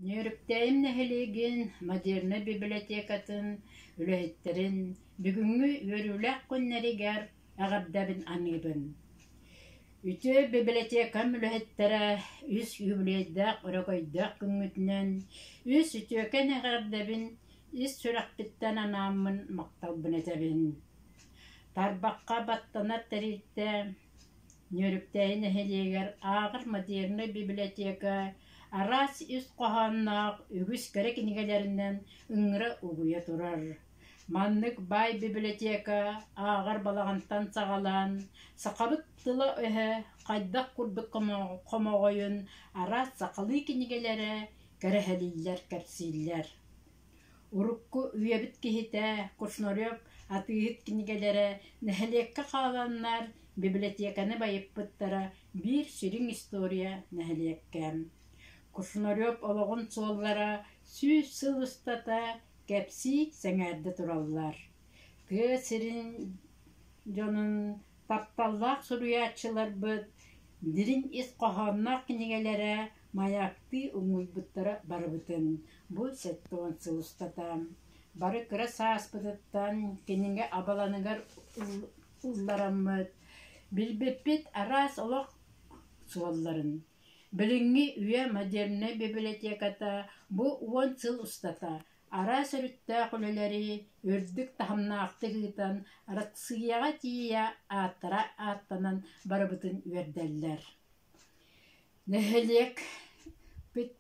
Нөөрүктээйим нэһилиэгин модернай библиотекатын үлэһиттэрин бүгүҥҥү үөрүүлээх күннэригэр эҕэрдэбин аныыбын. Үтүө библиотекам үлэһиттэрэ үс үбүлүөйдээх өрөгөйдөөх күҥҥүтүнэн үс үтүөкэн эҕэрдэбин ис сүрэхпиттэн анааммын махталбын этэбин. Тарбахха баттанар тэрилтэ Ньөрүктэйи нэһилиэгэр ааҕар модернай бибилэтиэкэ араас ис хоһоонноох үгүс кэрэ кинигэлэринэн ыҥыра угуйа турар. Маннык баай бибилэтиэкэ ааҕар балаҕантан саҕалаан, сахабыт тыла-өһө хайдах курдук хомоҕойун араас сахалыы кинигэлэрэ кэрэһэлииллэр-кэпсииллэр. Урукку үйэбит киһитэ Кушнарев атыыһыт кинигэлэрэ нэһилиэккэ хааланнар библиотеканы байыппыттара биир сүрүн история нэһилиэккэ Кушнарев олоҕун суоллара сүүс сыл устата кэпсии сэҥээрдэ тураллар, тыа сирин дьонун Тапталлаах суруйааччыларбыт дириҥ ис хоһоонноох кинигэлэрэ маяктыы умуйбуттара барыбытын бу сэттэ-уон сыл устата бары кыра сааспытыттан кинигэ абаланыгар уллараммыт, билбиппит араас олох суолларын. Билиҥҥи үйэ модернай бибилэтиэката бу уон сыл устата араас өрүттээх үлэлэри үрдүк таһымнаахтык ыытан Россияҕа тиийэ ааттара ааттанан барыбытын үөрдэллэр нэһилиэкпит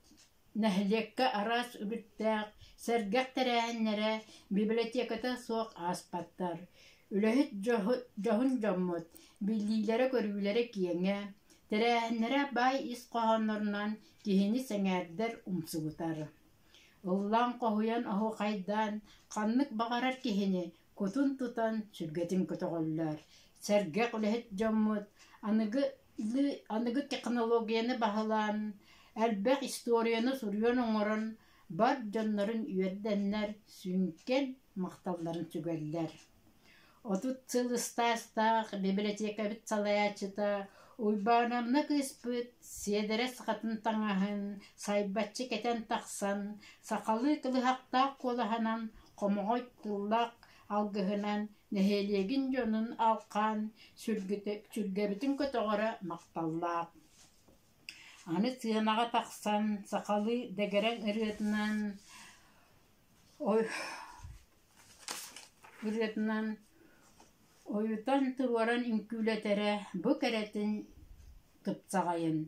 нэһилиэккэ араас үбүктээх сэргэх тэрээһиннэрэ библиотеката суох ааспаттар үлэһит дьоһун дьоммут биллиилэрэ-көрүүлэрэ киэҥэ тэрээһиннэрэ баай ис хоһооннорунан киһини сэҥээрдэр умсугутар Ыллаан хоһуйан оһуохайдаан, ханнык баҕарар киһини кутун тутан сүргэтин көтөҕөллөр. Сэргэх үлэһит дьоммут аныгы аныгы технологияны баһылаан, элбэх историяны суруйан оҥорон бар дьоннорун үөрдэннэр, сүҥкэн махталларын сүгэллэр Отут сыл ыстаастаах бибилэтиэкэбит салайааччыта Уйбаанамна кыыспыт Сиэдэрэ сахатын таҥаһын сайбаччы кэтэн тахсан, сахалыы кылыһахтаах куолаһынан, хомоҕой тыллаах алгыһынан нэһилиэгин дьонун алҕаан, сүргэбитин көтөҕөрө махталлаах. Аны сыанаҕа тахсан, сахалыы дэгэрэҥ ырыатынан Ой ырыатынан ойутан туруоран үҥкүүлэтэрэ бу кэрэтин тупсаҕайын,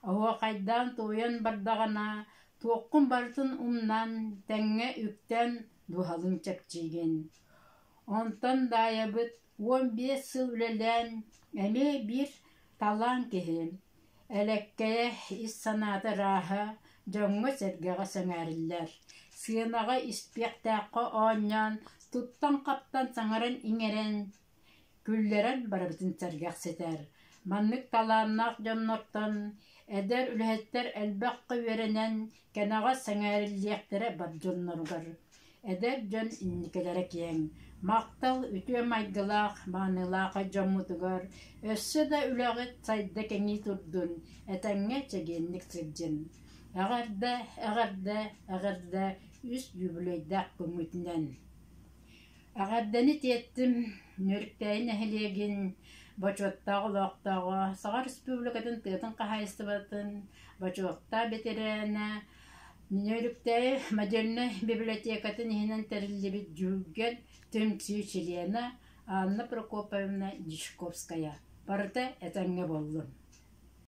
оһуохайдаан туойан бардаҕына туоххун барытын умнан, тэҥҥэ үктээн дууһалыын чэпчиигин. Онтон Даайабыт Уон биэс сыл үлэлээн эмиэ биир талаан киһи, элэккэйэ, ис санаата ырааһа дьоҥҥо-сэргэҕэ сэҥээриллэр, сыанаҕа испиэктээххэ оонньоон, туттан-хаптан саҥаран-иҥэрэн, күллэрэн барыбытын сэргэхситэр. Маннык талааннаах дьоннортон эдэр үлэһиттэр элбэххэ үөрэнэн, кэнэҕэс сэҥээриллиэхтэрэ бар дьонноругар. Эдэр дьон инникилэрэ киэҥ, махтал үтүө майгылаах, маанылаах дьоммутугар, өссө да үлэҕит сайда кэҥии турдун, этэҥҥэ чэгиэнник сылдьын. Эҕэрдэ, эҕэрдэ, эҕэрдэ үс юбилейдаах күммүтүнэн! Эҕэрдэни тиэртим Нөрүктэйи нэһилиэгин бочуоттаах олохтооҕо, Саха Республикатын тыатын хаһаайыстыбатын бочуоттаах бэтэрээнэ Миҥэ Өрүктээйи модельнай бибилэтиэкэтин иһинэн тэриллибит Дьүһүггэн түмсүү чилиэнэ Анна Прокоповна Дьячковская: «Барыта этэҥҥэ буоллун»